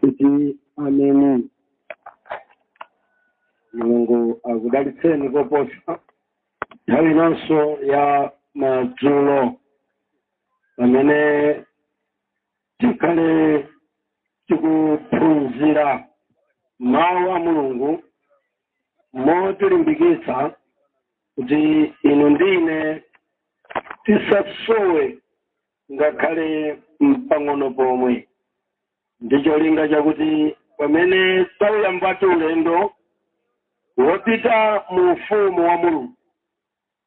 kuti ameni mulungu akudalitseni koposa nthawi inanso ya madzulo pamene tikhale tikuphunzira mawu a mulungu motilimbikitsa kuti inu ndi ine tisasowe ngakhale mpang'ono pomwe ndi cholinga chakuti pamene tauyambatu ulendo wopita mu ufumu wa mulungu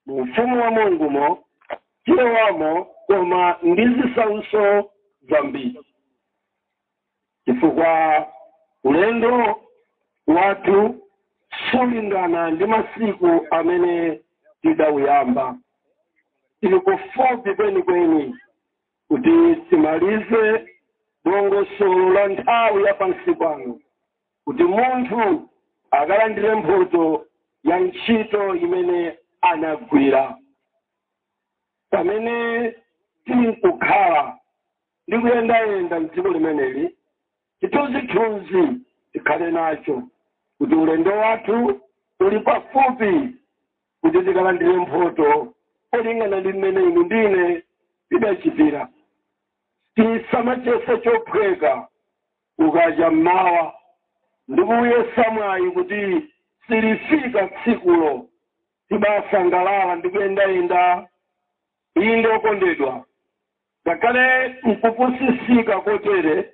mu ufumu wa mulungumo tilowamo koma ndi zisautso zambiri chifukwa ulendo wathu sulingana ndi masiku amene tidauyamba tili kufupi kwenikweni kuti timalize dongosolo la nthawi ya pansi pano kuti munthu akalandire mphoto ya ntchito imene anagwira pamene tikukhala ndi kuyendayenda m'dziko limeneli chithunzithunzi tikhale nacho kuti ulendo wathu uli pafupi kuti tikalandire mphoto molingana ndi mmene inu ndi ine tidachitira tisamachiyese chophweka ukacha mmawa ndi kuyesa mwayi kuti silifika tsikulo tibasangalala ndi kuyendayenda Inde, okondedwa, ngakhale nkupusisika kotere,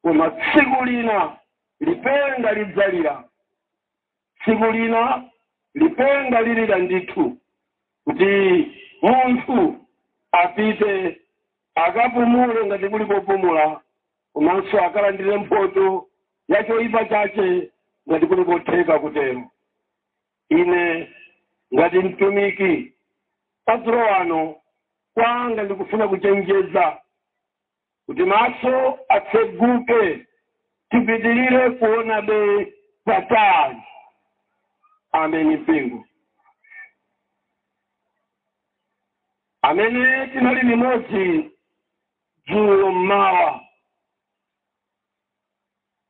koma tsiku lina lipenga lidzalira, tsiku lina lipenga lilira ndithu, kuti munthu apite akapumule ngati kuli popumula, komanso akalandire mphoto ya choipa chache ngati kuli kotheka kutero. Ine ngati mtumiki madzulo ano kwanga ndi kufuna kuchenjeza kuti maso atseguke tipitirire kuonabe patali. Ameni mpingo. Amene tinali limodzi dzulo mmawa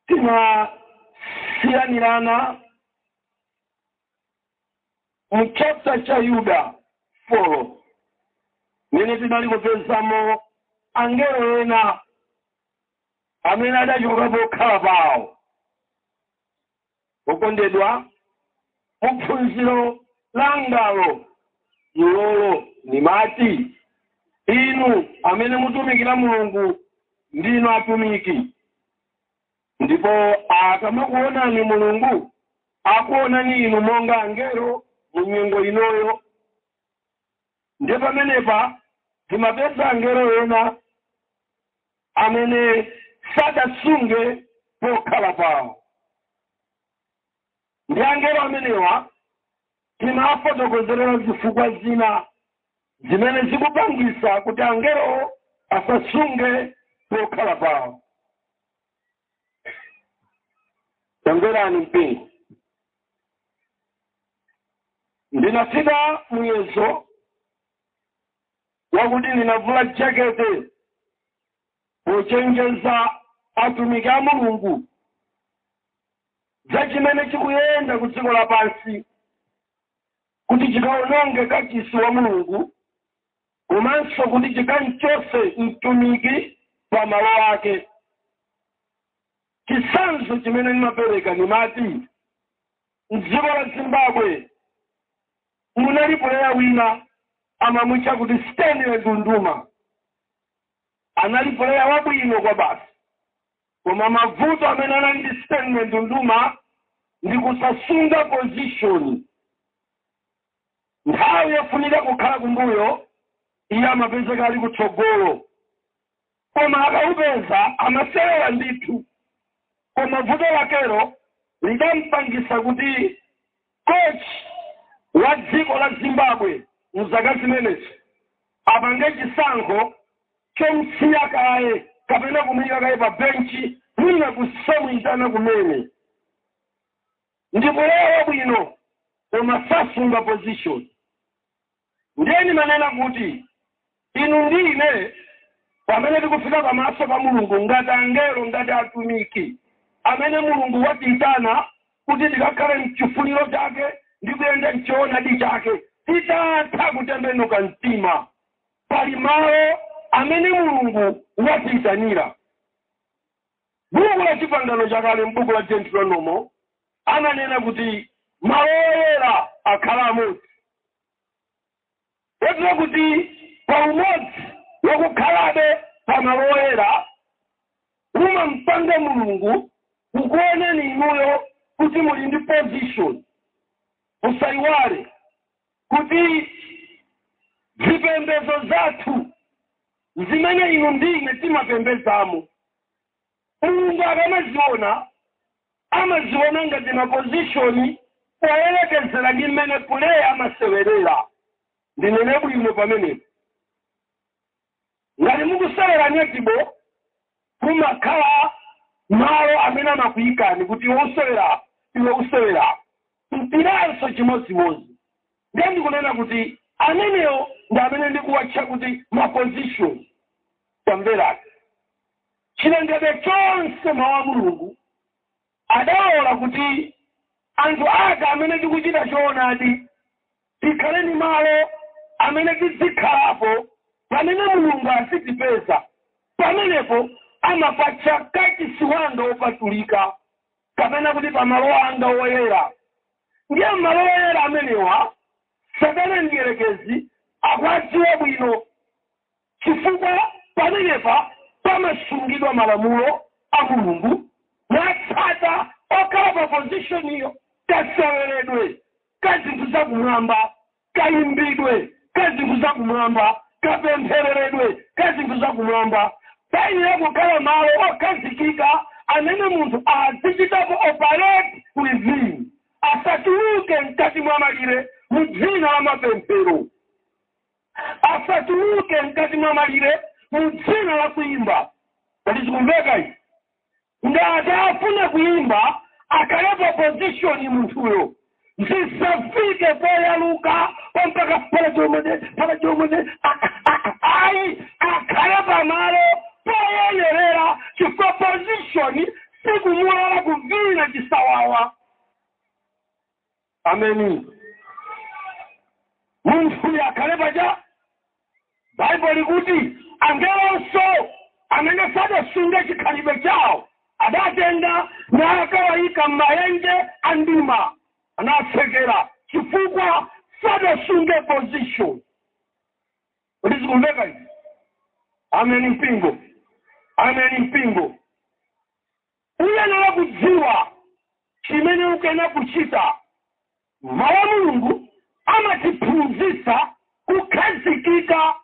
tinasiyanirana mu chaputala cha yuda 4 mmene tinali kupezamo angelo ena amene adachoka pokhala pawo okondedwa mu phunziro langalo ilolo nimati inu amene mutumikira mulungu ndinu atumiki Ndipo akamakuonani Mulungu akuonani inu monga angelo mu nyengo inoyo. Ndiye pamenepa timapeza angelo ena amene sadasunge pokhala pawo. Ndi angelo amenewa tinafotokozerera zifukwa zina zimene zikupangisa kuti angelo asasunge pokhala pawo. Tamverani mpingo. Ndinafika muyezo wakuti ndinavula jakete pochenjeza atumiki a Mulungu za chimene chikuyenda ku dziko lapansi kuti chikawononge kachisi wa Mulungu komanso kuti chikamchose mtumiki pa malo ake. Chisanzo chimene ndimapereka ndimati mdziko la Zimbabwe munali puleya wina amamutcha kuti Stanley Ndunduma. anali puleya wabwino kwabasi, koma mavuto amene anali ndi Stanley Ndunduma ndi kusasunga position nthawi yofunika kukhala kumbuyo iye amapezeka ali kutsogolo koma akaupeza amasewera ndithu koma vuto lakero lidampangisa kuti Coach wa dziko la Zimbabwe mu zaka zimenezi apange chisankho chomusiya kaye kapena kumuika kaye pa bench mwina kusamuitana kumene ndi player wabwino koma sasunga position. ndiye ndimanena kuti inu ndi ine pamene tikufika pamaso pa mulungu ngati angelo ngati atumiki amene mulungu watiyitana kuti tikakhale mchifuniro chake ndi kuyenda mchoonadi chake titatha kutembenuka mtima pali malo amene mulungu watiyitanira Buku la Chipangano Chakale m'buku la Deuteronomo amanena kuti malo oyera akhala amodzi. Kotero kuti pa umodzi wakukhalabe pa malo oyera umampanga Mulungu kukuonani inuyo kuti muli ndi position. Musaiwale kuti zipembedzo zathu zimene inu ndi ine timapembedzamo. Mulungu akamaziona, amaziona ngati ma position poyerekezera ndi mmene player amasewerera. Ndinene bwino pamenepo? Ngati mukusewera netball, Kumakhala malo amene amakuyikani kuti iwe usewera apa, iwe usewera apa. Mpiranso chimodzimodzi. Ndiye ndikunena kuti amenewo ndi amene ndikuwatcha kuti ma positions. Tamverani. Chilengedwe chonse, Mawu a Mulungu, Adalola kuti anthu Ake amene tikuchita choonadi tikhale ndi malo amene tidzikhalapo pamene Mulungu azitipeza, pamenepo amapatcha Kachisi wanga wopatulika kapena kuti pa malo anga woyera. Ndiye m'malo woyera amenewa Satana Mdierekezi akuwadziwa bwino. chifukwa pamenepa pamasungidwa malamulo a Mulungu, otsata okhala pa pozishoniyo, kaseweredwe ka zinthu za kumwamba, kayimbidwe ka zinthu za kumwamba, kapemphereredwe ka zinthu za kumwamba. Payenera kukhala malo okhazikika amene munthu azichitapo operate within, asatuluke mkati mwa malire mu dzina la mapemphero. asatuluke mkati mwa malire mu dzina la kuimba kodi zikumveka izi ngati afuna kuimba akhale pa pozishoni munthuyo zisafike poyaluka mpaka pala chomone pala chomone a- a- ayi akhale pamalo poyenerera chifukwa pozishoni sikumulola kuvina chisawawa ameni munthuyo akhale paja baibulo likuti angelonso amene sadasunge chikhalidwe chawo adatenga nakawayika m'mayenje a mdima nawatsekera chifukwa sadasunge position kodi zikumveka izi ameni mpingo ameni mpingo Uyenera kudziwa chimene ukuyenera kuchita. Mau a Mulungu amatiphunzitsa kukhazikika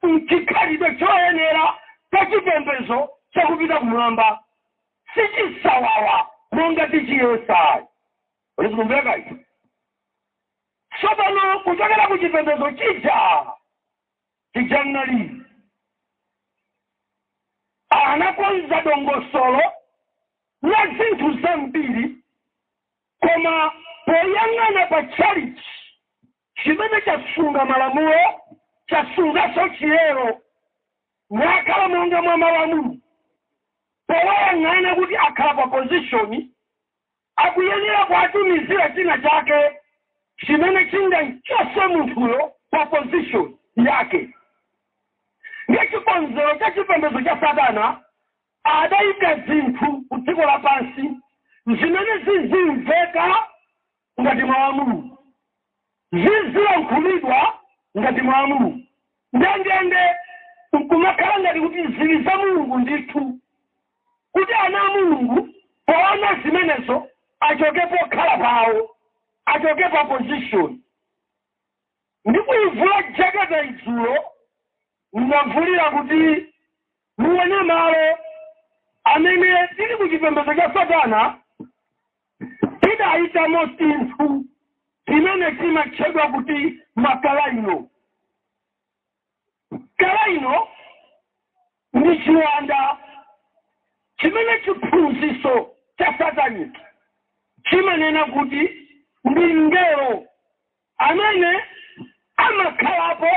m'chikhalidwe choyenera cha chipembedzo cha kupita kumwamba. Si chisawawa monga tichiyesa ayi. Kodi zikumveka izi? Tsopano kuchokera ku chipembedzo. chija tinali anakonza dongosolo la zinthu zambiri koma poyang'ana pa tchalichi chimene chasunga malamulo chasunganso chiyero nakhala monga mwa malamulo powayang'ana kuti akhala pa position Akuyenera kuwatumizira china chake chimene chingamchotse munthuyo pa position yake. Ndiye chikonzero cha chipembedzo cha satana adaika zinthu ku dziko lapansi zimene zizimveka ngati mau a Mulungu. zizilankhulidwa ngati mau a Mulungu ndendende, nkumakhala ngati kuti zili za Mulungu ndithu, kuti ana a Mulungu poona zimenezo achoke pokhala pawo, achoke pa position. Ndikuivula jeketeyi dzulo, ndinavulira kuti. Muone malo amene tili ku chipembedzo cha Satana tidaikamo zinthu zimene zimatchedwa kuti makalaino. Kalaino ndi chiwanda chimene chiphunzitso cha sataniki chimanena kuti ndi mngelo amene amakhalapo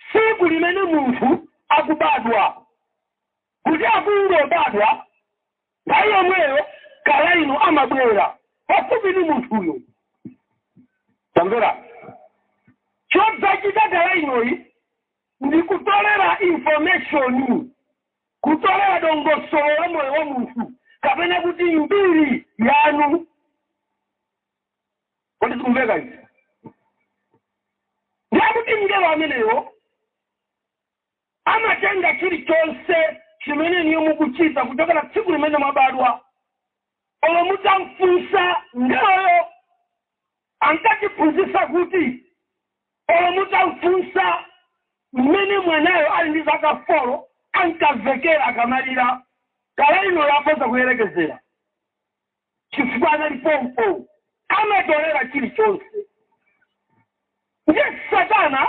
tsiku limene munthu akubadwa, kuti akungobadwa nthawi yomweyo kalaino amabwera pafupi ndi munthuyo. Tamvera, chodzachita kalainoyi ndi kutolera information, kutolera dongosolo la moyo wa munthu kapena kuti mbiri yanu. kodi zikumveka izi ndiye kuti mngelo ameneyo amatenga chilichonse chimene inuyo mukuchita kuchokera tsiku limene mwabadwa olo mutamfunsa mngeloyo ankatiphunzitsa kuti olo mutamfunsa mmene mwanayo ali ndi zaka folo ankamvekera akamalira kalaino yakhoza kuyerekezera chifukwa anali pompo amatolera chilichonse ndiye satana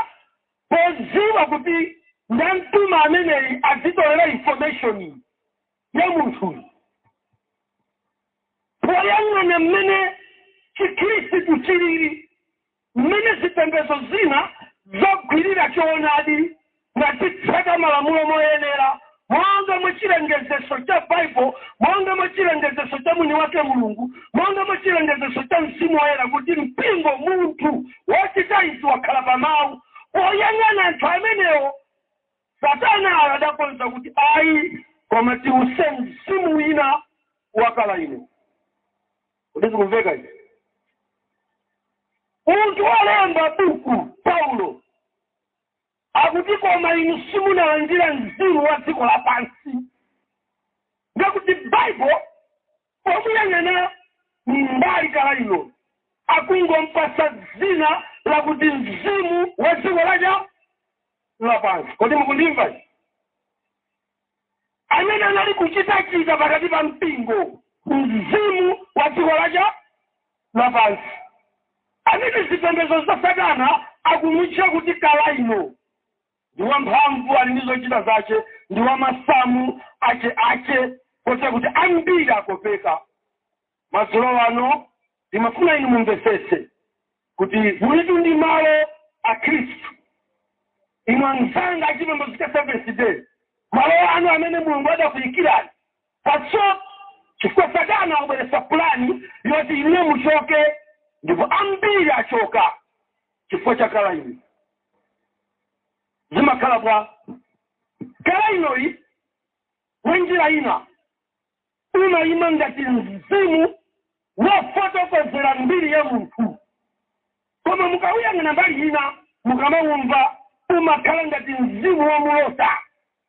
podziwa kuti ndamtuma ameneyi azitolera information ya munthuyu poyang'ana mmene chikhristu chilili Mmene zipembedzo zina zagwirira choonadi nazitsata malamulo moyenera monga mwa chilengezetso cha Bible, monga mwa chilengezetso cha Mwiniwake Mulungu, monga mwa chilengezetso cha Mzimu Woyera kuti mpingo, munthu, wachita izi, wakhala pa Mawu. Poyang'ana anthu amenewo, satanayo adakonza kuti, Ayi, koma tiwutse mzimu wina wa Kalaino. kodi zikumveka izi munthu wolemba buku paulo akuti koma inu simunalandira mzimu wa dziko lapansi ngakuti baibulo pomuyang'ana mbali kalaino akungompasa dzina lakuti mzimu wa dziko laja lapansi kodi mukundimva izi? amene anali kuchitachita pakati pa mpingo, mzimu wa dziko lacha lapansi, amene zipembedzo za Satana akumutcha kuti Kalaino, ndi wamphamvu, ali ndi zochita zache, ndi wa masamu ache ache, kotero kuti ambiri akopeka. Madzulo ano ndimafuna inu mumvetsetse, kuti mulitu ndi malo a Khristu, inu amzanga achipembedzo cha Seventh-day, malo anu amene Mulungu adakuikirani patso, chifukwa Satana wabweretsa pulani yoti inuyo muchoke, ndipo ambiri achoka chifukwa cha Kalaino. Zimakhala bwa? Kalainoyi mwa njira ina. umayima ngati mzimu wofotokozera mbiri ya munthu. Koma mukawuyang'ana mbali ina, mukamawumva, umakhala ngati mzimu womulota,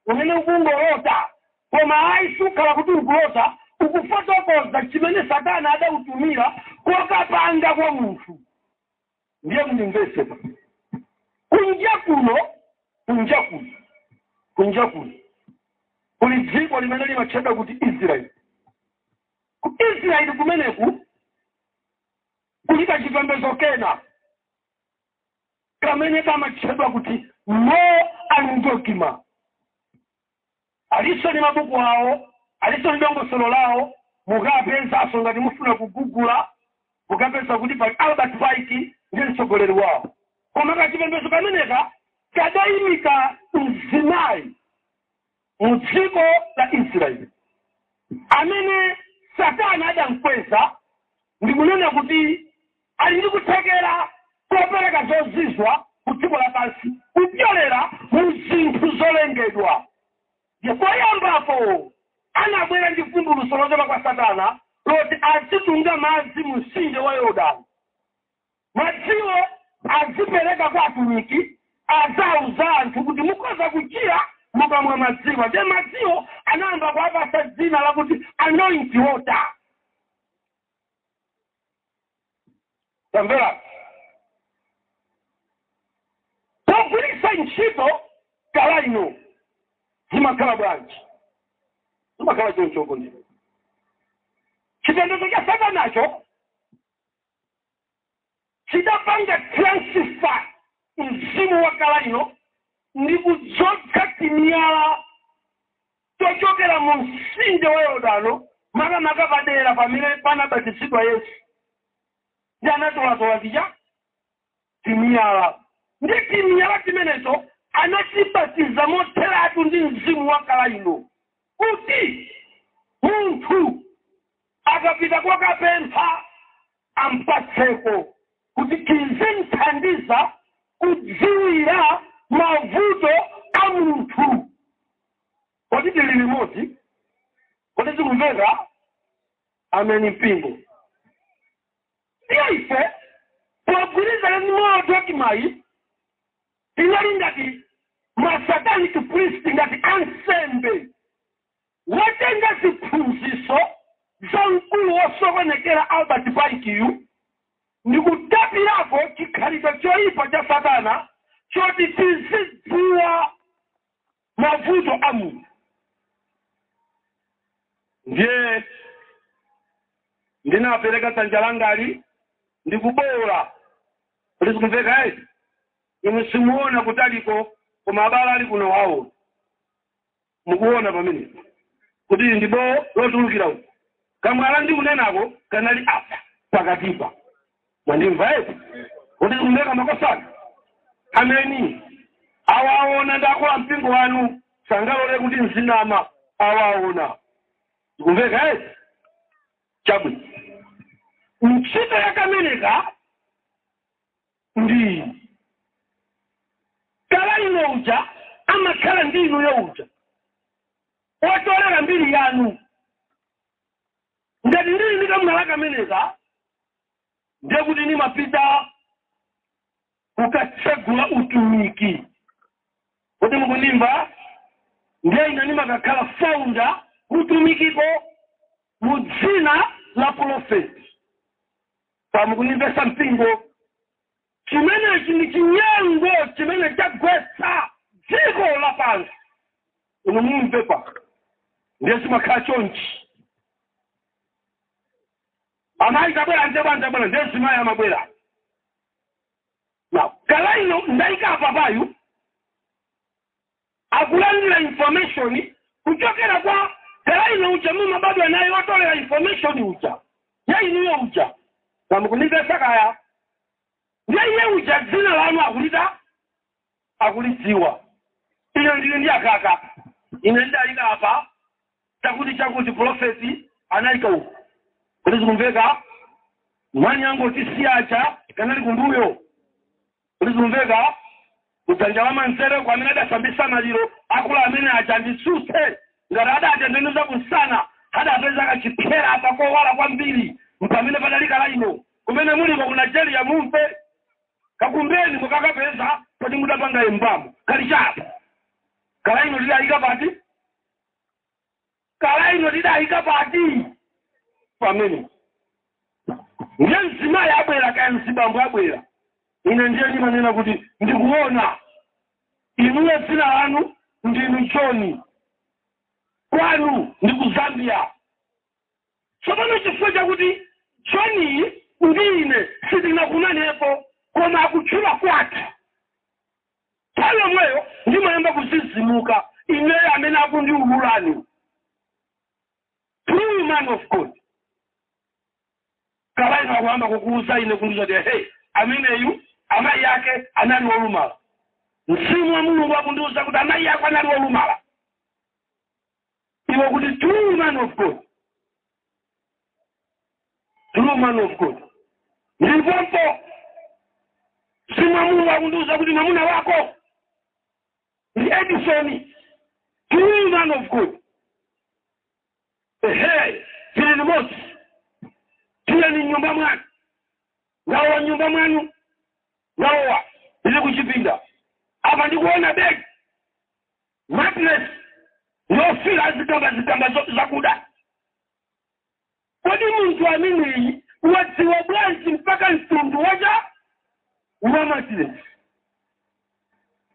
umene ukungolota, koma ayi sukhala kuti ukulota, ukufotokoza chimene Satana adawutumira kokapanga kwa munthu. ndiye mundimvetsebe kunja kuno kunja kuno kunja kuno kuli dziko limene limatchedwa kuti israeli ku israeli kumeneku kuli kachipembedzo kena kamene kamatchedwa kuti no andogima Alinso ndi mabuku awo, alinso ndi dongosolo lawo, mukapezanso ngati mufuna kugugula mukapeza kuti pali Albert Pike ndiye mtsogoleri wawo. Koma kachipembezo kameneka kadaimika mzimayi mu dziko la Israel amene satana adamkweza ndikunena kuti. Ali ndi kuthekera kopereka zozizwa ku dziko lapansi kupyolera mu zinthu zolengedwa. Ndiye poyambapo anabwera ndi vumbulutso lochoka kwa satana loti azitunga madzi mu mtsinje wa Yordano. Madziwo azipereka kwa atumiki azauza anthu kuti mukhoza kuchira mukamwa madziwa. Ndiye madziwo anayamba kuwapatsa dzina lakuti Anointing water. tamvera pogwiritsa ntchito kalaino zimakhala bwanji zimakhala chonchoko ndi chipembedzo cha satanacho chidapanga transfer mzimu wa kalaino ndi kudzodza timiyala tochokera mu Mtsinje wa Yordano, makamaka pa dera pamene panabatizidwa Yesu, ndi anatolatola tija timiyala. Ndi timiyala timeneto anatibatiza motheratu ndi mzimu wa kalaino, kuti munthu akapita kokapempha ampatseko, kuti tizimthandiza kudziwira mavuto a munthu. Kodi tili limodzi? Kodi zikumveka? Ameni mpingo. Ndiye ife pogwirizana ndi moyo wa chimayi tinali ngati masatanic priest ngati ansembe wotenga ziphunziso za mkulu wosokonekera Albert Pikeyu ndi kutapirako chikhalidwe choyipa cha satana choti tizidziwa mavuto a munthu ndiye ndinapereka dzanja langali ndikubowola kodi zikumveka ayi inu simuona kutaliko koma abale ali kuno wawo mukuona pamenepa kuti ndi bowo lotulukira uku kamwala ndikunenako kanali apa pakatipa mwandimva eti kodi zikumveka makosana ameni awaona ndakula mpingo wanu sangalole kuti ndizinama awaona zikumveka eti chabwino ntchito ya kameneka ndi kala ino uja amakhala ndi inuyo uja otolera mbiri yanu Ngati ndili ndi kamwala kameneka, ndiye kuti ndimapita kukatsegula utumiki. Kodi mukundimva? Ndiye ine ndimakakhala founder ku utumikiko mu dzina la pulofeti. Kaya mukundimvetsa mpingo? Chimenechi ndi chinyengo chimene chagwetsa dziko lapansi. Inu mumve pa. Ndiye zimakhala chonchi. Amayi tabwera nje bwana tabwera ndiye mzimayi amabwera. Na kala ino ndaika apapayu akulandila information kuchokera kwa kala ino uja mumabadwa naye otolera information uja ya inuyo uja kaya mukunimvetsa kaya ndiye iye uja dzina lanu akulita akulidziwa ine ndili ndi akaka ine ndidaika apa chakuti chakuti profeti anaika uku kodi zikumveka mwani yangu otisiya uja kanali kumbuyo Kodi zikumveka? Kudzanja lamanzere uko, amene adasambitsa maliro akulu amene aja, anditsutse ngati adatembenuza kumsana, adapeza kachipsera apa kowala kwambiri mpamene padali kalaino. Kumene muliko ku Nigeria mumve. Kakumbeni mukakapeza poti mudapanga embalm. Kali cha apo. Kalaino tidayika pati? Kala ino tidaika pati pamene ndiye mzimayi abwera kaya mzibambo abwera ine ndiye ndimanena kuti ndikuona inuyo dzina lanu ndinu joni kwanu ndi ku zambia tsopano chifukwa chakuti joni ndi ine sitinakumanepo koma akutchula kwathu Nthawi yomweyo ndimayamba kuzizimuka ineyo amene akundiulula ndi true man of God kala ino akuyamba kukuuza ine kundiuza kuti hey ameneyu amayi ake anali wolumala mzimu wa mulungu akundiuza kuti amayi ako anali wolumala iwo akuti true man of god true man of god ndipompo mzimu wa Mulungu ukundiuza kuti mwamuna wako ndi edison true man of god ehe tili limodzi tili mnyumba mwanu wawa mnyumba mwanu wawa ili kuchipinda apa ndikuona begi Mattress yofiira yazikamba zikamba zakuda kodi munthu ameneyi wadziwa bwanji mpaka mtundu wa cha wa mattress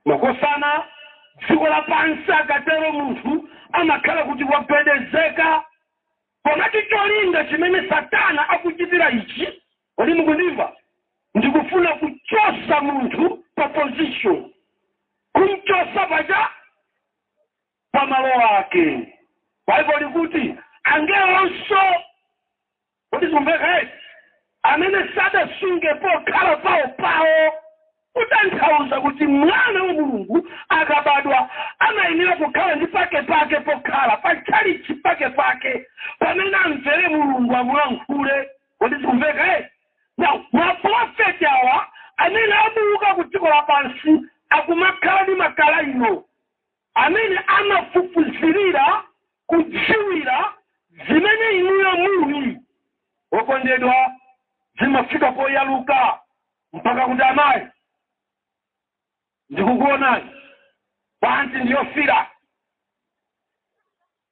makosana dziko lapansi akatero munthu amakhala kuti wapezeka Komatu cholinga chimene Satana akuchitira ichi, kodi mukundimva, ndi kufuna kuchotsa munthu pa position, kumchotsa pa cha, pa malo ake. Baibulo likuti angelonso, kodi zikumveka eti, amene sadasunge pokhala pawo pawo Kutanthauza kuti Mwana wa Mulungu akabadwa amayenera kukhala ndi pakepake pokhala, pa tchalitchi pakepake pamene amvere Mulungu amulankhule. Kodi zikumveka eti? Now, mapulofeti awa amene abuka ku dziko lapansi akumakhala ndi makalayino amene amafufuzirira kudziwira zimene inuyo muli, wokondedwa, zimafika poyaluka. mpaka kuti amayi ndikukuonani panti ndi yofiira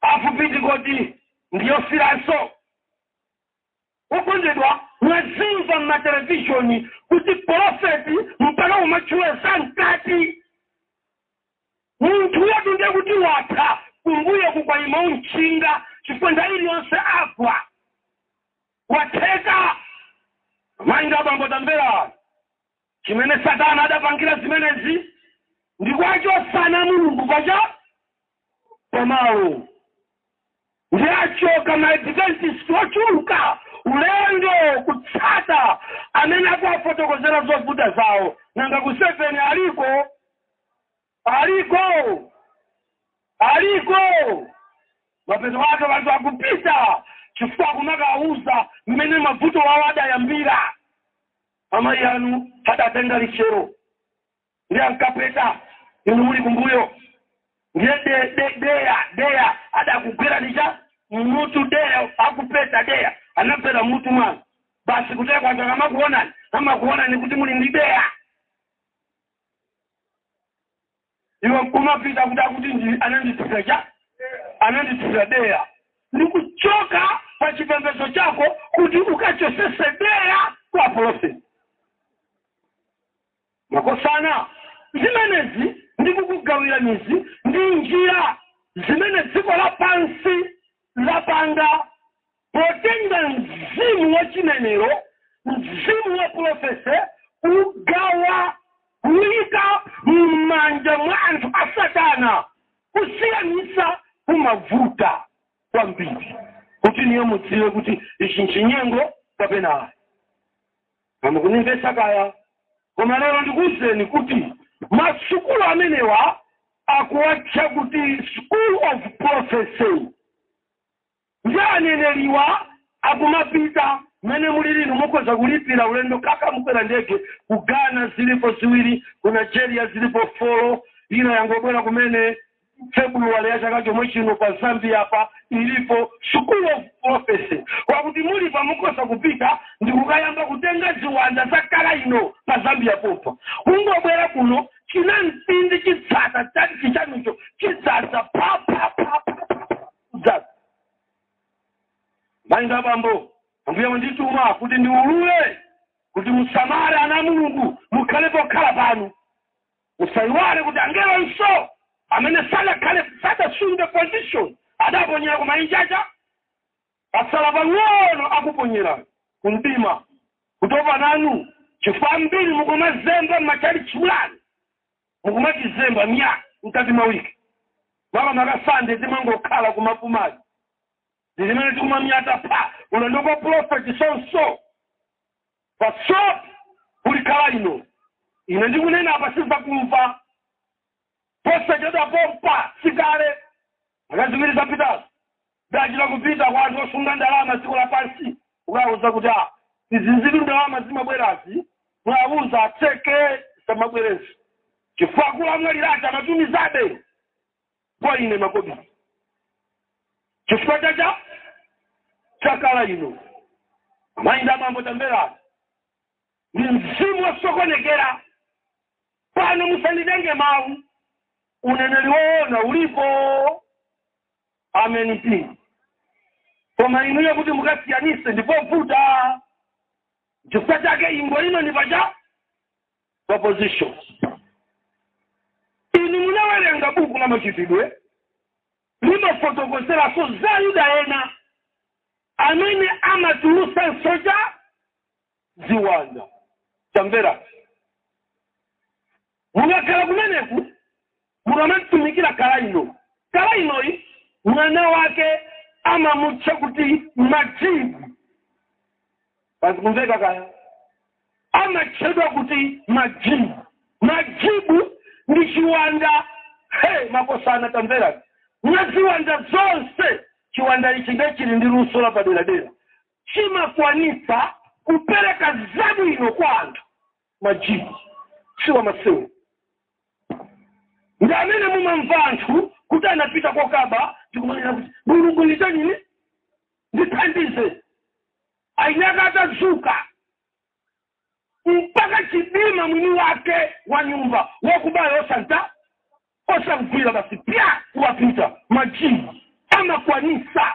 hafu pitikoti ndi yofiiranso okondedwa mwazimva mmatelevishoni kuti porofeti mpaka kumatchula za mkati munthu uyotu ndiye kuti watha kumbuyo kukuyima otchinga chifukwa nthawi iliyonse agwa Watheka! Mai ndi abambo tamverani! Chimene satana adapangira zimenezi ndi kuwachotsa ana a Mulungu pa cha pamalo. Ndiye achoka ma Adventist ochuluka ulendo kutsata amene akuwafotokozera zovuta zawo. Nanga ku Seven aliko? aliko aliko mapeto ake anthu akupita chifukwa akumakawauza mmene mavuto wawo adayambira amayi anu adatenga lichero ndiye ankapeta inu muli kumbuyo ndiye de- de- deya deya adakugwerani cha mmutu deya akupeta deya anagwera mmutu mwanu basi chifukwa anthu akamakuonani amakuonani kuti muli ndi deya iwe nkumapita kuti akuti ndi- anandithira chani anandithira deya ndi kuchoka pa chipembedzo chako kuti ukachosese deya kwa apolofeti makosana zimenezi ndi kukugawirani izi ndi njira zimene dziko lapansi lapanga Potenga mzimu wa chinenero, mzimu wa pulofesi, kuwugawa, kuwuyika mmanja mwa anthu a Satana, kusiyanisa kumavuta kwambiri, kuti inuyo mudziwe kuti ichi nchinyengo kapena ayi. Kaya mukundimvetsa kaya? Koma lero ndikuwuzeni kuti masukulu amenewa akuwatcha kuti School of Prophecy. Ndiye aneneriwa akumapita mmene mulili inu mukhoza kulipira ulendo kaya mukwera ndege ku Ghana zilipo ziwiri ku Nigeria zilipo folo ina yangobwera kumene February ya chaka chomwe chino pa Zambia apa ilipo School of Prophecy kwakuti muli apa mukhoza kupita ndi kukayamba kutenga ziwanda za kala ino pa Zambia pompa mungobwera kuno chinamtindi chitsata tchalichi chanucho chidzadza pa Amayi ndi abambo, Ambuye wandituma kuti ndiulule kuti musamale ana a Mulungu, mukhale pokhala panu. Musaiwale kuti angelonso amene sadakhale sadasunge position adaponyera kumayi uja pasala pang'ono akuponyera ku mdima kutopa nanu chifukwa ambiri mukumazemba m'matchalichi mwanu mukumachizemba myaa mkati mwa wiki makamaka sande timangokhala kumapumazi ndizimene tikuma myaa pha ulendo kwa profeti sonso pasop kulikhala ino ine ndikunena apa sizakumva posachedwa pompa sikale Zaka ziwiri zapitazo ndachita kupita kwa anthu osunga ndalama dziko lapansi kukawauza kuti a izizitu ndalama zimabwerazi mwawuza atseke samabwerenso chifukwa akulu amwalira aja amatumizabe kwa ine makobiri chifukwa chacha chakala ino amayi ndi abambo tamverani ndi mzimu wasokonekera pano musanditenge mawu uneneri woona ulipo ameni eti koma inuyo kuti mukasiyanise ndipovuta chifukwa chake ingo ino ndi pacha opposition inu munawerenga buku la machitidwe limafotokozeranso za Ayuda ena amene amatulusa nsoja ziwanda tamverani mukakhala kumeneku mukamatumikira kala inoyi kala inoyi mwana wake amamutcha kuti majibu pazikumveka kaya amatchedwa kuti majibu majibu ndi chiwanda he makosana tamverani mwa ziwanda zonse chiwanda ichi ndiye chili ndi luso lapaderadera chimakwanitsa kupereka zabwino kwa anthu majibu si wamasewero ndi amene mumamva anthu kuti anapita kokaba ndikumanena kuti mulungu nditanini ndithandize ainaka atadzuka mpaka chidima mwini wake wa nyumba wakubayo osanta osamgwira basi pya kuwapita majibu amakwanisa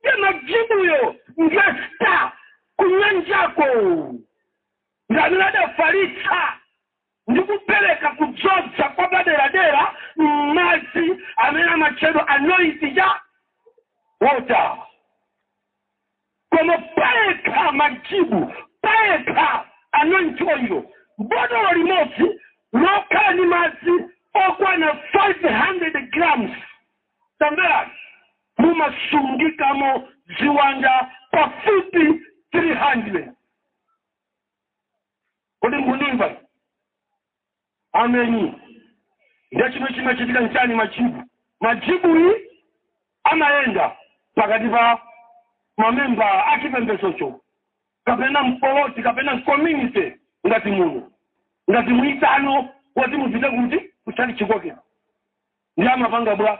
Ndiye majibuyo ngasta kunyanjako ndi amene adafalitsa ndi kupereka kudzodza kwa paderadera m'madzi amene amatchedwa anointing water koma payekha majibu payekha anointing oil botolo limodzi lokhala ndi madzi okwana 500 grams Tamverani! Mumasungikamo ziwanda pafupi 300. Kodi mukundimva? Ameni. Ndiye chimene chimachitika nchani? Majibu majibuyi amayenda pakati pa mamembala a chipembedzocho kapena mpoloti kapena mcommunity ngati muno ngati mwaitanidwa woti mupite kuti kutchalitchi kwake ndi amapanga bwa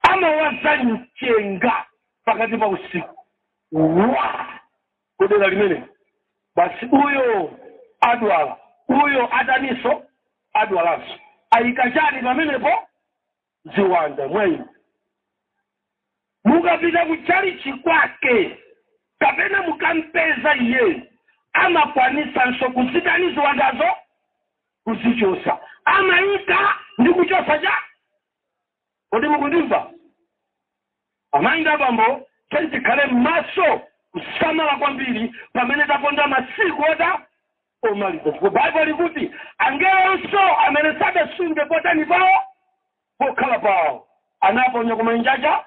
amawaza mchenga pakati pa usiku wa kudera limene basi uyo adwala uyo ataninso adwalanso ayika chani pamenepo ziwanda mwayi Mukapita ku tchalitchi kwake kapena mukampeza iyeyo amakwanitsanso kuzitani ziwandazo? Kuzichotsa. Amaika ndi kuchotsa cha. Kodi mukundimva? Amayi ndi abambo, tiyeni tikhale m'maso kusamala kwambiri pamene taponda masiku ota omaliza chifukwa Bible ikuti angelonso amene sadasunge potani pawo pokhala pawo anaponya ku manjaja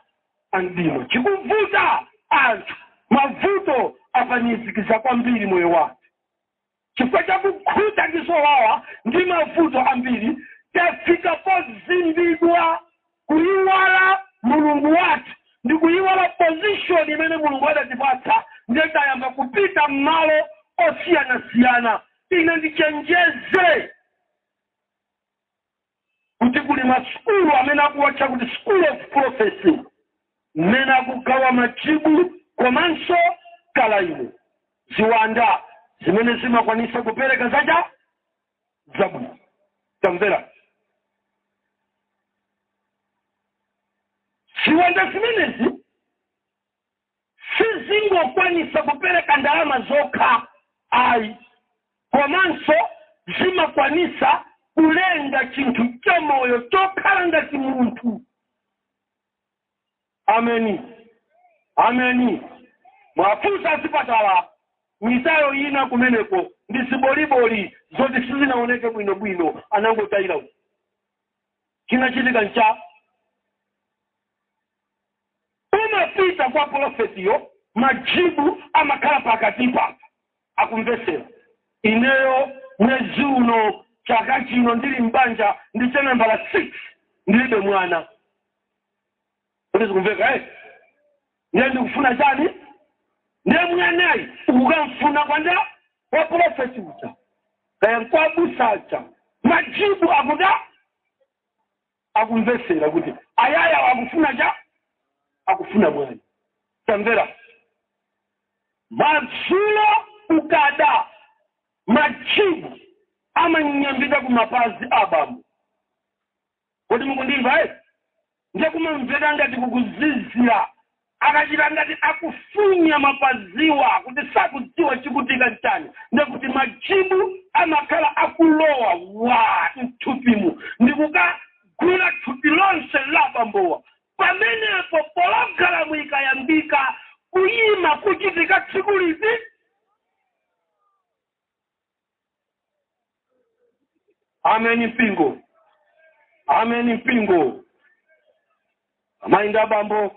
a mdima chikuvuta anthu mavuto apanizikiza kwambiri moyo wathu chifukwa cha kukhuta zowawa ndi mavuto ambiri tafika pozimbidwa Kuyiwala mulungu wathu ndikuyiwala position imene mulungu adatipatsa nde tayamba kupita mmalo osiyanasiyana ine ndichenjeze kuti kuli masukulu amene akuwatcha kuti school of prophecy mmene akugawa majibu komanso kalaimo ziwanda zimene zimakwanisa kupereka zacha. zabwino tamvera ziwanda zimenezi sizingokwanisa kupereka ndalama zokha ayi komanso zimakwanisa kulenga chinthu chamoyo chokhala ngati munthu Ameni, ameni. Muwafunse azipatala mitayo ina kumeneko ndi ziboliboli zoti sizinaoneke bwino bwino, anangotayira uko. Chinachitika ncha unapita kwa polofetiyo, majibu amakhala pakatipa, akumvetsera. Ineyo mwezi uno chaka chino ndili m'banja ndi cha nambala 6 ndilibe mwana. kuti zikumveka eti ndiye ndikufuna chani ndiye mwanayi ukamfuna kwanda kwa pulofeti uja kaya nkwabusa aja majibu akuda akumvesera kuti ayaya akufuna cha akufuna mwana tamvera madzulo ukada majibu amanyambita ku mapazi a bambo Kodi mukundimva eti? Ndiye kumamvera ngati kukuzizira. Akachita ngati akufunya mapaziwa kuti sakudziwa chikuchitika nchani, ndiye kuti majibu amakhala akulowa waa mthupimu ndikukagwira thupi lonse la abambowa. Pamenepo pologalamu ikayambika, kuyima kuchitika tsiku liti? ameni mpingo ameni mpingo amayi ndi abambo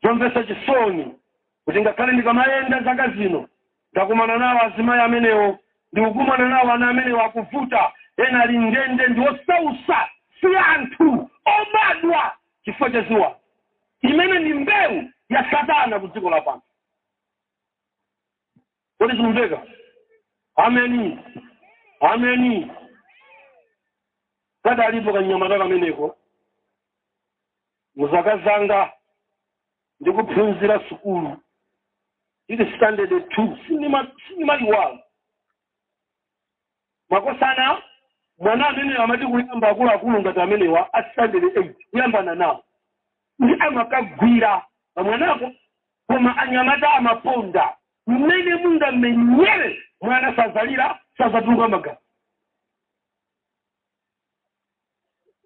zomvetsa chisoni kuti ngakhale ndikamayenda zaka zino ndakumana nawo azimayi amenewo ndikukumana nawo ana amenewo akuvuta ena ali ndende ndi osausa si anthu obadwa chifukwa cha ziwanda imene ndi mbewu ya satana ku dziko lapansi kodi zikumveka ameni ameni kadalipo kanyamata kameneko muzaka zanga ndikuphunzira sukulu ili standard 2 sindimaiwala makosana mwana ameneyo amati kuyamba akuluakulu ngati amenewa a standard 8 kuyambana nawo ndi amakagwira pamwanako koma anyamata amaponda mmene mungamenyere mwana sazalira sazatuluka magazi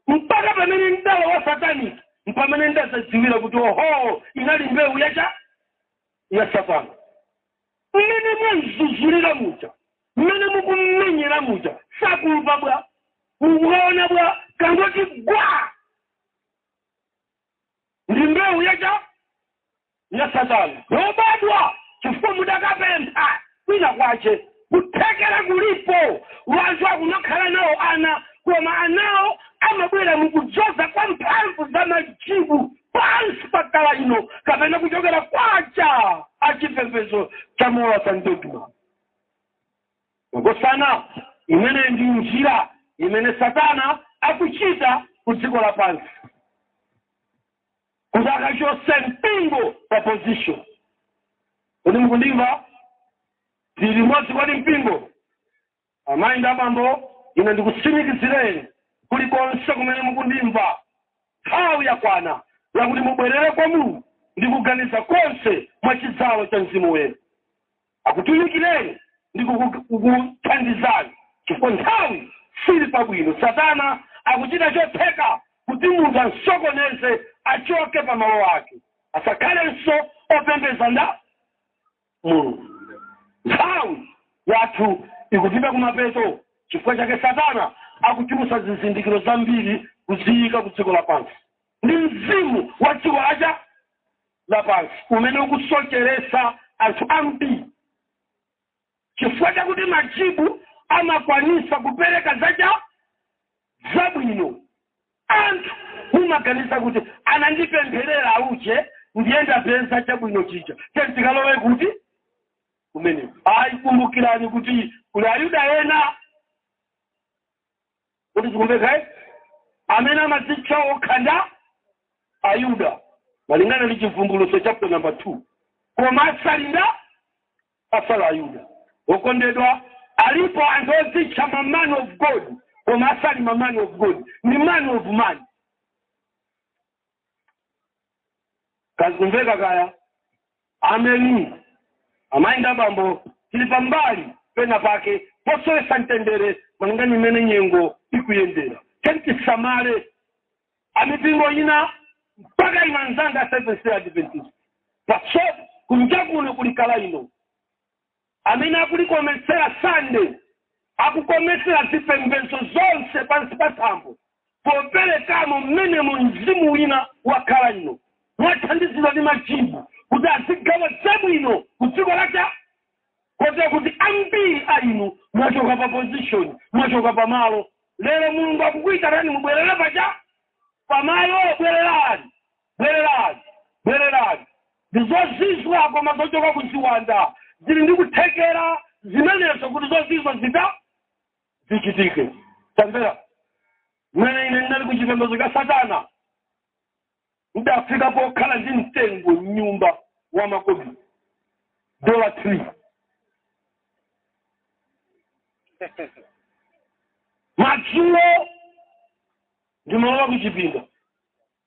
mpaka pamene ndalowa satanic mpamene ndazadziwira kuti oho inali mbewu yacha ya satana mmene mwamzuzulira muja mmene mukummenyera muja sakumva bwa mukuona bwa kangoti gwa ndi mbewu yacha ya satana lobadwa chifukwa mudakapempha kwina kwache kuthekera kulipo wanthu akunakhala nawo ana koma anawo amabwera mukudzoza kwa mphamvu za majibu pansi pa kala ino kapena kuchokera kwacha achipembedzo cha mowa santedwa Makosana, imeneyi ndi njira imene Satana akuchita ku dziko lapansi kuti akachose mpingo pa position. Kodi mukundimva? Tili limodzi kodi mpingo? Amayi ndi abambo, ine ndikutsimikizireni kulikonse kumene mukundimva, nthawi yakwana yakuti mubwerere kwa Mulungu ndi kuganiza konse mwa chidzalo cha Mzimu Woyera. akutumikireni ndi kukuthandizani chifukwa nthawi sili pabwino. Satana akuchita chotheka kuti munthu amsokoneze achoke pa malo ake, asakhalenso opembedza nda Mulungu. Nthawi yathu ikupita kumapeto chifukwa chake Satana akuchulutsa zizindikiro zambiri kuziyika ku dziko lapansi ndi mzimu wa dziko lacha. lapansi umene ukusocheretsa anthu ambiri chifukwa chakuti majibu amakwanisa kupereka zacha zabwino anthu mumaganiza kuti anandipempherera uje ndiye ndapeza chabwino chija tentikalowe kuti kumene ayi kumbukirani kuti kuli ayuda ena kuti zikumveka amene amadzitcha okha nda ayuda malingana ndi chivumbulutso chapter number 2 koma asali nda asala ayuda okondedwa alipo anthu odzitcha ma man of god koma asali ma man of god ndi man of man kazikumveka kaya ameni amayi nda bambo tili pambali pena pake posowesa mtendere malingana mmene nyengo ikuyendera tentisamale amipingo ina mpaka imanzanga seventh day adventist paso kunja kuno kulikala ino Amene akulikometsera Sunday akukometsera zipembedzo zonse pansi pa thambo poperekamo mmenemo mzimu wina wakhala inu mwathandizidwa ndi majibu kuti azigawa zabwino ku dziko la cha kotero kuti ambiri a inu mwachoka pa position mwachoka pa malo lero mulungu akukuitanani mubwerere paja pamalo bwererani Bwererani! Bwererani! Ndi zozizwa koma zochoka ku ziwanda ziri ndi kuthekera zimenezo kuti zozizwa zita. zichitike. Tamvera. Mmene ine ndinali ku chipembedzo cha Satana, ndidafika pokhala ndi mtengo m'nyumba wa makobiri, dollar tree. Madzulo ndimalowa ku chipinda,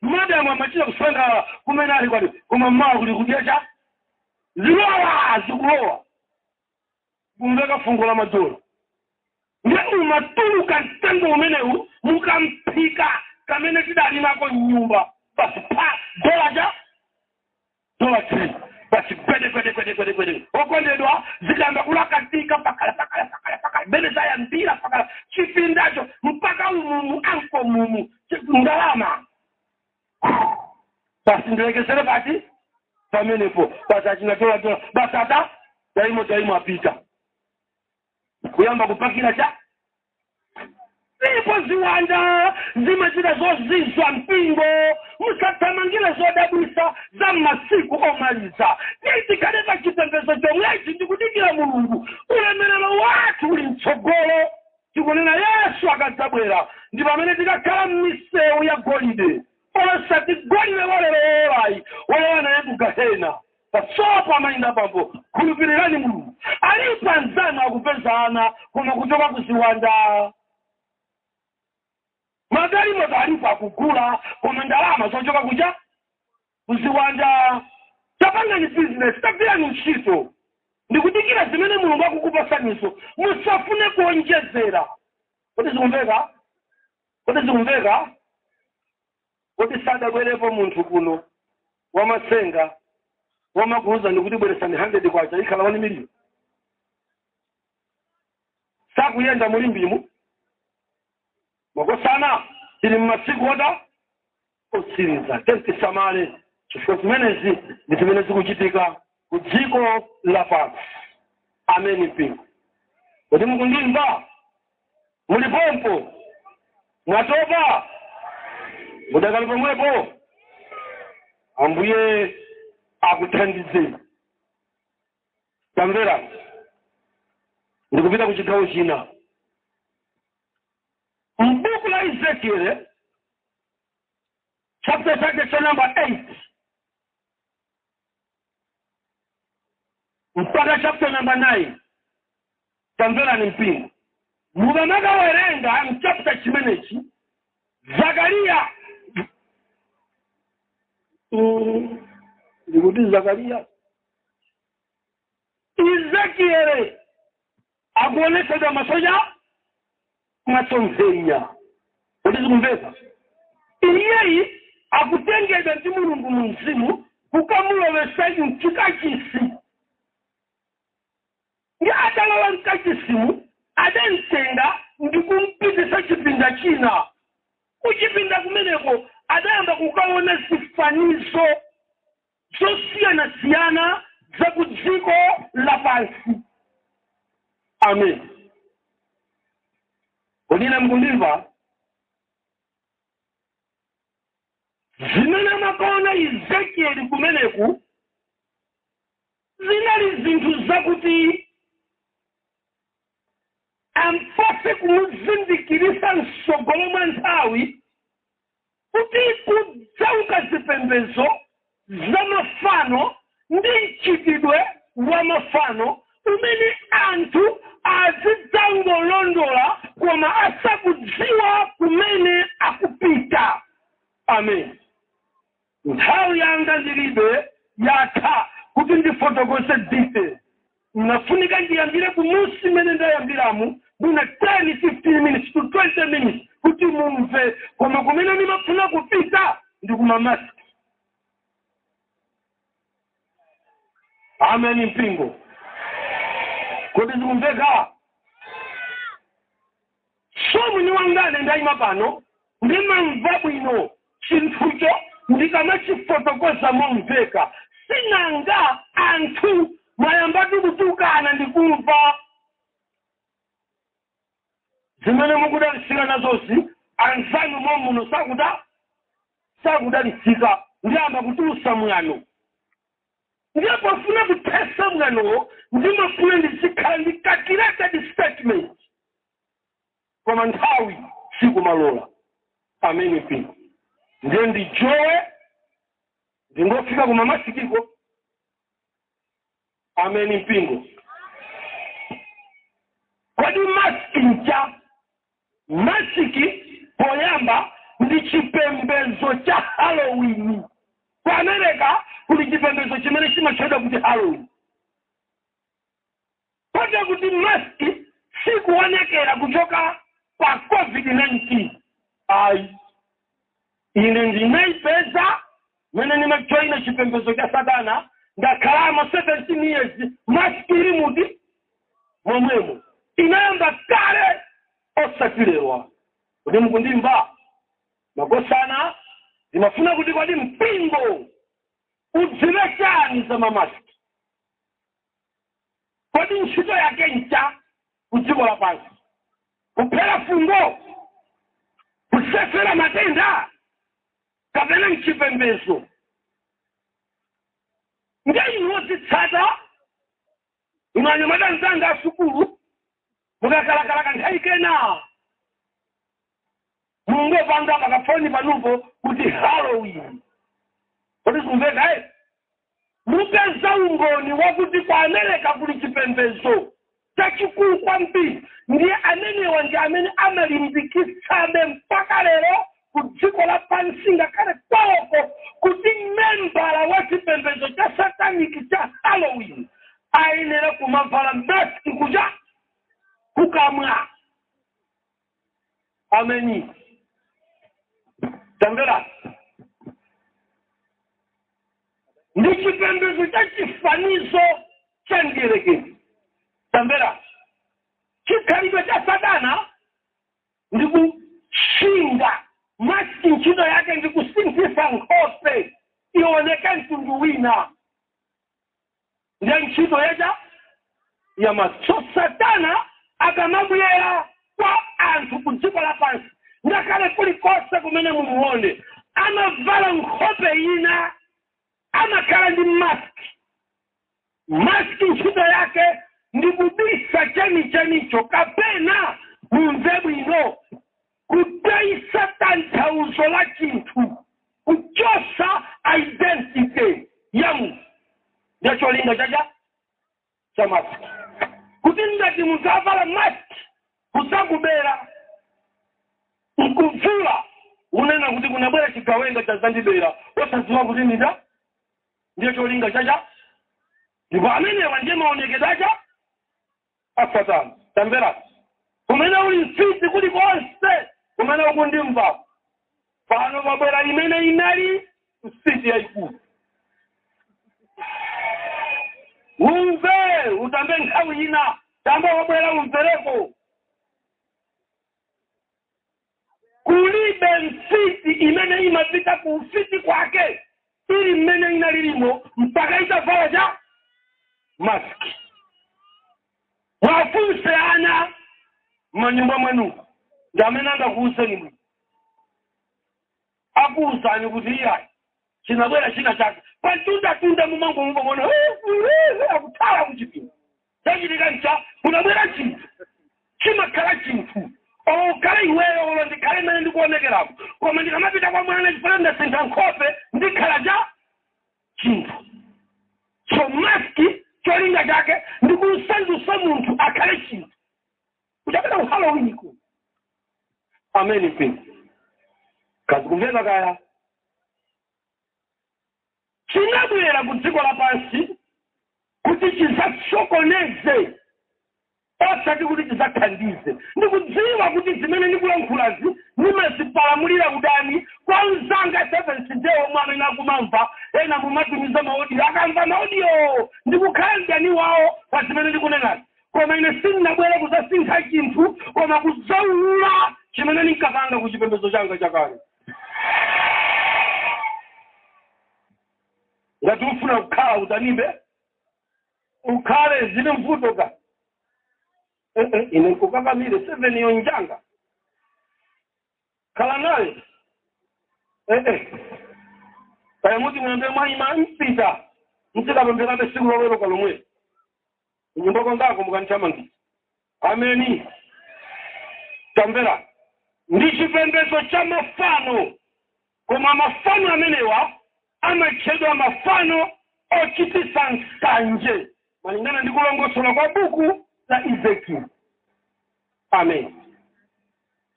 Madam amachita kusangalala kumene ali kwati koma mmawa kuli kudya cha ziwawa zikulowa kumveka fungo la madola ndiye umatuluka mtengo umenewu mu kamphika kamene tidali nako mnyumba basi pa dola cha dollar tree basi gwede gwede gwede gwede gwede okondedwa zikayamba kulakatika pakala pakala pakala pakala mmene zayambira pakala chipindacho mpaka umumu ankle mumu ndalama basi ndilekezere pati pamenepo basi achinatoatola basi ata daimo daimo apita kuyamba kupakira cha Ndipo ziwanda zimachita zozizwa mpingo. Musathamangire zodabwitsa za m'masiku omaliza. Tiye tikhale pa chipembedzo chomwechi ndi kudikira Mulungu. Ulemerero wathu uli mtsogolo. Tikunena Yesu akadzabwera ndi pamene tikakhala m'misewu ya golide, osati golide wa lero wowolayi, wolowa naye ku gahena. pasopo amayi ndi abambo khulupirirani mulungu alipo anzanu akupeza ana koma kuchoka kuziwanda magalimoto alipo akugula koma ndalama zochoka kuja kuziwanda tapangani bizinesi tagwirani ntchito ndikudikira zimene mulungu akukupatsanizo musafune kuonjezera kodi zikumveka kodi zikumveka Kodi sadabwerepo munthu kuno wamatsenga womakuuzani kuti bweretsani 100 kwacha ikhala 1 million? Sakuyenda mu Limbemu makosana tili mmasiku ota otsiriza tiyeni tisamale chifukwa zimenezi ndi zimene zikuchitika ku dziko lapansi. Ameni mpingo, kodi mukundimva? muli pompano mwatopa mudakali pomwepo ambuye akuthandizeni tamvera ndikupita ku chigawo china mbuku la ezekiele chapter chake cha number 8 mpaka chapter number 9 tamverani mpingo mukamakawerenga mchapter chimenechi zakariya ndikuti zakariya ezekiele akuonetsedwa masonya masomphenya kuti zikumveka iyeyi akutengedwa ndi mulungu mu mzimu kukamulowesa mchikachisi ndi atalowa mkachisimu adamtenga ndi kumpitisa chipinda china kuchipinda kumeneko adayamba kukaona zifanizo zosiyanasiyana za ku dziko lapansi amen kodi mukundimva zimene amakaona ezekieli kumeneku zinali zinthu zakuti ampatse kumuzindikirisa mtsogolo mwa nthawi kuti kudzauka zipembedzo za mafano ndi mchitidwe wa mafano umene anthu azidzangolondola koma asakudziwa kumene akupita. Amen. Nthawi yanga ndilibe yatha kuti ndifotokoze detail. Mnafunika ndiyambire kumusi mmene ndayambiramu mwina 10 15 minutes to 20 minutes kuti mumve koma kumene ndimafuna kupita ndi kumamasks amen mpingo kodi zikumveka So mwini wakene ndaima pano ndimamva bwino chinthucho ndikamachifotokoza momveka. Sinanga anthu mwayambatu kutukana ndikumva zimene mukudalitsika nazozi anzanu momuno sakuda sakudalitsika ndiyamba kutulusa mwano Ndiye pofuna kuthesa mkanganowo ndimafuna ndizikhala ndi ka recorded statement koma nthawi sikumalola. Ameni mpingo. Ndiye ndijowe ndingofika ku mamasikiko. Ameni mpingo. Kodi maski ncha? Masiki, poyamba, ndi chipembedzo cha Halloween. Ku America kuli chipembedzo chimene chimatchedwa kuti Halloween. Kotero kuti masiki sikuonekera kuchoka pa COVID-19. Ayi. ine ndinaipeza mene ndinajoina chipembezo cha satana ndakhalamo 17 years masiki ili muti momwemo inayamba kale osati lero kodi mukundimva makosana ndimafuna kuti kodi mpingo udziwe chani za mamasiki Kodi ntchito yake ncha ku dziko lapansi? Kuphera fungo? Kusefera matenda? Kapena nchipembedzo? Nde inu ozitsata, inu anyamata nzanga asukulu, mukakalakalaka nthawi ina Mungopanga pakafoni panupo kuti Halloween. Kodi sikumveka eh? Mupeza umboni wakuti kwa America kuli chipembedzo chachikulu kwambiri ndiye amenewa ndi amene amalimbikitsabe mpaka lero ku dziko lapansi ngakhale kwawoko kuti membala wa chipembedzo cha sataniki cha halloween ayenera kumavala maski kuja kukamwa ameni tamvera ndi chipembedzo cha chifanizo cha mdierekezi tamvera chikhalidwe cha satana ndi kusintha maski ntchito yake ndi kusinthisa nkhope ioneke mtundu wina ndiye ntchito yake ya maski so satana akamabwera kwa anthu ku dziko lapansi ngakhale kulikonse kumene mumuone amavala nkhope ina amakhala ndi maski maski ntchito yake ndi kubisa chenichenicho kapena mumve bwino kutayitsa tanthauzo la chinthu kuchosa identity ya munthu ndiye cholinga chacha cha maski kuti ngati munthu avala maski kuzakubera nkuvula unena kuti kunabwera chigawenga chazandibera osadziwa kuti ndinda ndiye cholinga chacha ndipo amenewa ndiye maonekedwe acha a Satana, tamvera, kumene uli mfiti kulikonse, kumene ukundimva, pano pabwera imene inali mfiti yayikulu. Umve, utambe nthawi ina, tamba wabwera umvereko. Kulibe mfiti imene imapita ku ufiti kwake ili mmene inalilimo mpaka itavala cha mask. Mwafunse ana manyumba mwanu ndi amene angakuuzeni bwino. akuuzani kuti iyayi chinabwera china chake pamtundatunda mumangomva mwana akuthawa kuchipinda chachitika ncha kunabwera chinthu chimakhala chinthu olo ukhale iweyo olo ndikhale mmene ndikuonekerako koma ndikamapita kwa mwana chifukwa ndasintha nkhope ndikhala cha chinthu so maski cholinga chake ndikusandusa munthu akhale chinthu kuchokera ku halloween ku ameni kazikumveka kaya chinabwera ku dziko lapansi kuti chizasokoneze osati kuti chizathandize ndikudziwa kuti zimene ndikulankhulazi ndimazipalamulira udani kwa mzanga seventh day omwe amene akumamva ena mumatumiza maodiyo akamva maodiyo ndikukhala mdani wawo pa zimene ndikunenazi koma ine sindinabwere kudzasintha chinthu koma kudzaulula chimene ndinkapanga ku chipembedzo changa chakale ngati ufuna kukhala udanibe ukhale zilibe vuto ka Eh, eh, ine nkukakamire seveniyo njanga khala nayo Eh, eh. kaya muti muyambe mwayima mpita ndikapempherabe siku loweruka lomweli kunyumba kwangako mukandithamangitsa ameni tamvera ndi chipembedzo cha mafano koma mafano amenewa amatchedwa mafano ochititsa nsanje malingana ndi kulongosola kwa buku la ezekiel amen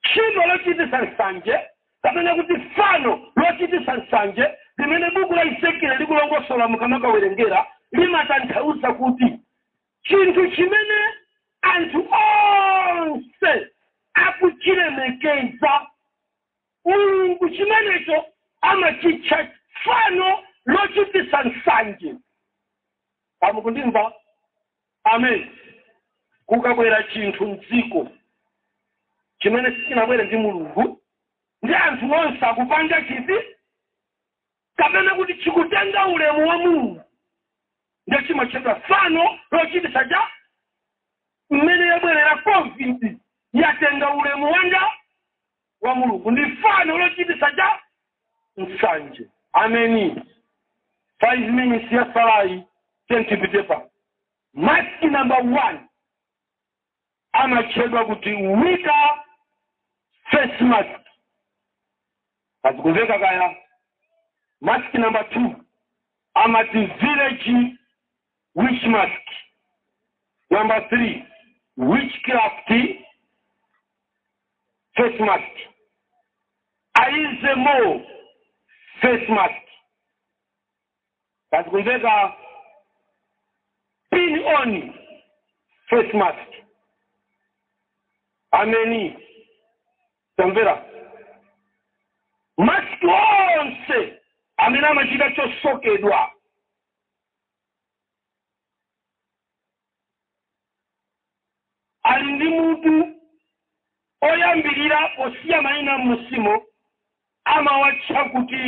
Tchimo lochititsa nsanje, kapena kuti fano lochititsa nsanje, limene buku la Ezekieli likulongosola mukamakawerengera, limatanthauza kuti chinthu chimene anthu onse akuchilemekeza. Mulungu chimenecho amachitcha fano lochititsa nsanje. Kaya mukundimva? Amen. Kukabwera chinthu mdziko chimene sichinabwere ndi Mulungu, ndi anthu onse akupanga chiti, kapena kuti chikutenga ulemu wa Mulungu, nde chimatchedwa fano lochititsa chiya mmene yabwerera Covid yatenga ulemu wanga wa Mulungu ndi fano lochititsa chiya nsanje ameni 5 minutes yatsalayi tentipitepa maski namba 1 amatchedwa kuti wika face mask zikumveka kaya maski namba 2 amati village Witch mask? Number three, witchcraft face mask. Aizemo face mask. Zikumveka pin on face mask. Ameni. Tamvera. Mask onse amene amachita chosokedwa ali ndi munthu oyambirira osiya mayina m'musimo amawatcha kuti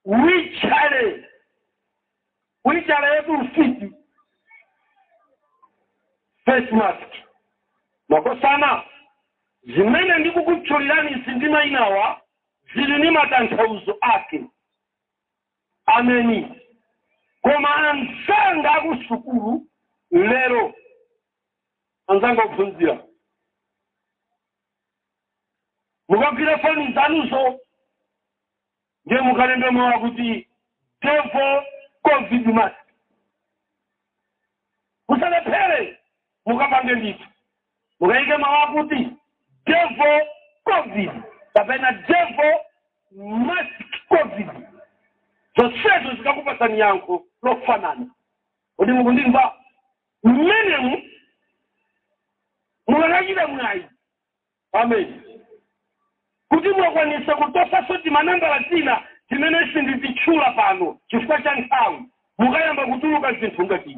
wichale wichale yetu ufiti face mask makosana zimene ndikukutchulirani izi ndi mayina awa zili ndi matanthauzo ake Ameni. Koma anzanga akusukulu lero, anzanga ophunzira, mukagwira foni zanuzo ndiye mukalembe mawu akuti devil covid mask. Musalephere. mukapange ndithu mukayike mawu akuti devil covid kapena devil mask covid zonsezo zikakupatsani yankho lofanana kodi mukundimva mmenemu mukakachita mwayi amen kuti mwakwanisa kutosanso timanambala tina timene sindititchula pano chifukwa cha nthawi mukayamba kutuluka zinthu ngati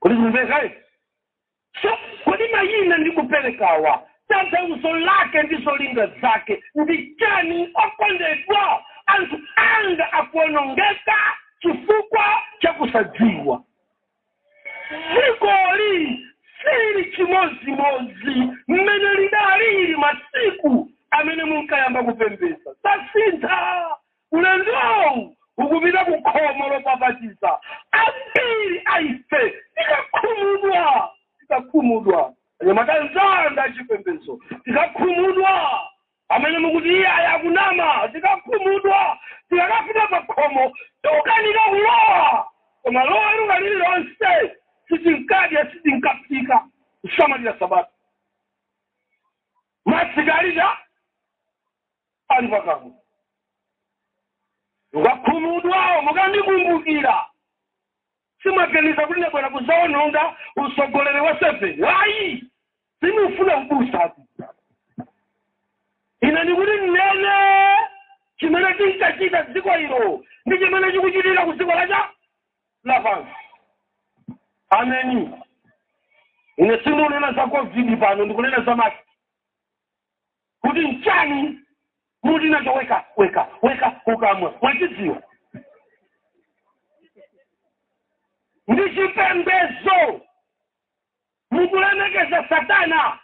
kodi zimvekayi so kodi mayina ndi kuperekawa tanthauzo lake ndi zolinga zake ndi chani okondedwa anthu anga akuonongeka chifukwa cha kusadziwa dzikoli sili chimodzimodzi mmene lidalili masiku amene munkayamba kupembeza zasintha Ulendowu ukupita ku khomo lopapatiza. Ambiri a ife tikakhumudwa, tikakhumudwa, anyamata anzanga achipembedzo, tikakhumudwa, amene mukuti iye ayi akunama, tikakhumudwa, tikakafika pa khomo tikukanika kulowa. Koma loweruka lililonse sitinkadya, sitinkaphika, kusamalira Sabata. Masiki ali pa ali pakamwa mukakhumudwa mukandikumbukira simwaganiza kuti ndabwera kuzaononga usogoleri wa seven ayi sindikufuna ubusa ine ndikuti nnene chimene tinkachita dziko ilo ndi chimene chikuchitika ku dziko lacha lapansi ameni ine sindikunena za covid pano ndikunena za maski kuti nchani muli nacho weka weka weka kukamwa mwachidziwa ndi chipembezo mukulemekeza satana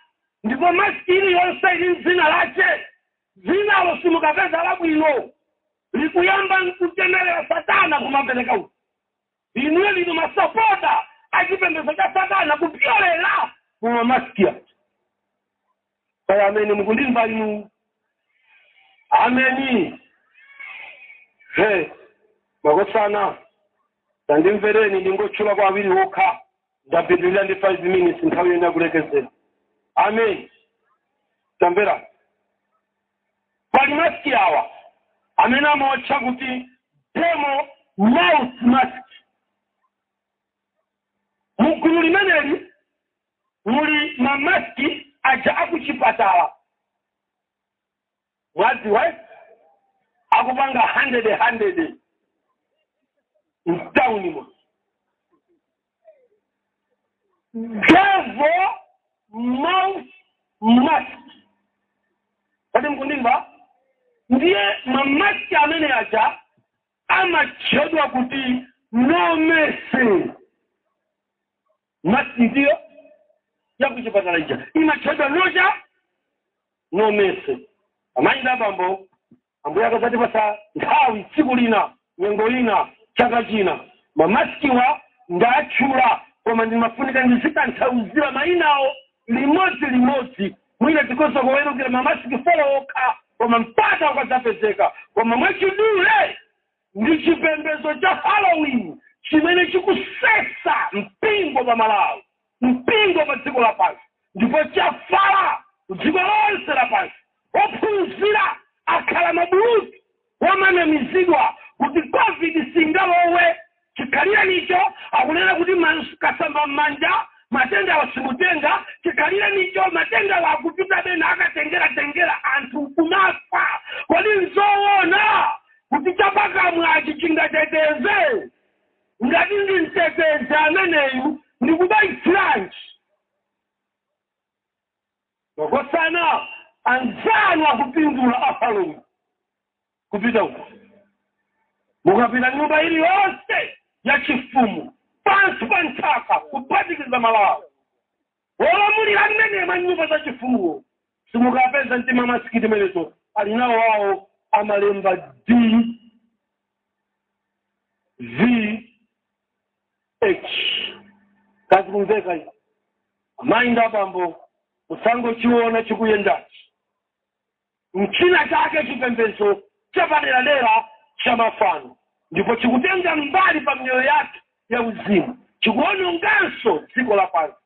ndipo masiki iliyonse ili mdzina lache dzinalo simukapeza labwino likuyamba nkuchemerera satana kumapereka uku Inuyo ndinu masapota a chipembezo cha satana kupyolela mu ma mask aja. Kaya ameni mukundimva inu? Ameni. He, makosana tandimvereni ndingotchulako awiri okha ndapitilira ndi 5 minutes nthawi yene yakulekezera. Ameni. Tamverani. Pali mask awa amene amawatcha kuti demon mouth mask. Mu gulu limeneli muli ma mask aja akuchipatala. Mwadziwa eh? Akupanga 100 100 mtaunimo. devil mouth mask kodi mukundimva ndiye mamaski amene aja amatchedwa kuti no mercy maski ndiyo yakuchipatala ija imatchedwa nocha no mercy amayi ndi abambo Ambuye akadzatipatsa nthawi tsiku lina, nyengo ina, chaka china, mamasikiwa ndatchula koma ndimafunika ndizitanthauzira mainawo limodzi limodzi. Mwina tikhoza kuwerukira ma masiki 4 okha koma mpata ukadzapezeka. Koma mwachidule ndi chipembedzo cha halloween chimene chikusesa mpingo pa malawi mpingo pa dziko lapansi ndipo chafala dziko lonse lapansi ophunzira akhala mabulutu omanamizidwa kuti covid singalowe chikhalirenicho akunena kuti kusamba m'manja matendawa simutenga chikhalirenicho matendawa kupita pena akatengeratengera anthu kumafa kodi nzoona kuti chapakamwachi chingateteze ngati ndi mtetezi ameneyu ndi kubayitsiranji makosana anzanu akupindula a halloween kupita uko mukapita nyumba ili yonse ya chifumu pansi pa nthaka kuphatikiza malawi Wolamulira mmene manyumba achifumuwo simukapeza timamasikiti timeneto ali nawo awo amalemba DVH kazi kumveka izi amayi ndi abambo musangochiona chikuyendachi m'china chake chipembedzo chapaderadera cha mafano ndipo chikutenga mbali pa miyoyo yathu ya uzimu chikuononganso dziko la pansi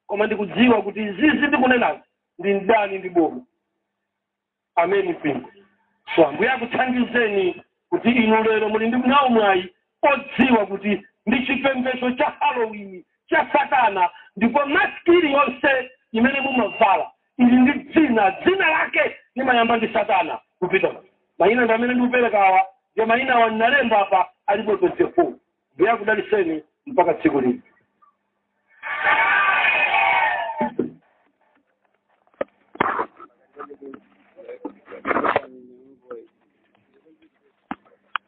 koma ndikudziwa kuti izizi ndikunenazi ndi mdani ndi boma ameni mpingo so ambuye akuthandizeni kuti inu lero muli ndi nawo mwayi odziwa kuti ndi chipembedzo cha halloween cha satana ndipo masiki iliyonse imene mumavala ili ndi dzina dzina lake limayamba ndi satana kupita mayina ndi amene ndikuperekawa ndiye mayina awa ndinalemba apa alipo 24 mbuye akudalitseni mpaka tsiku lina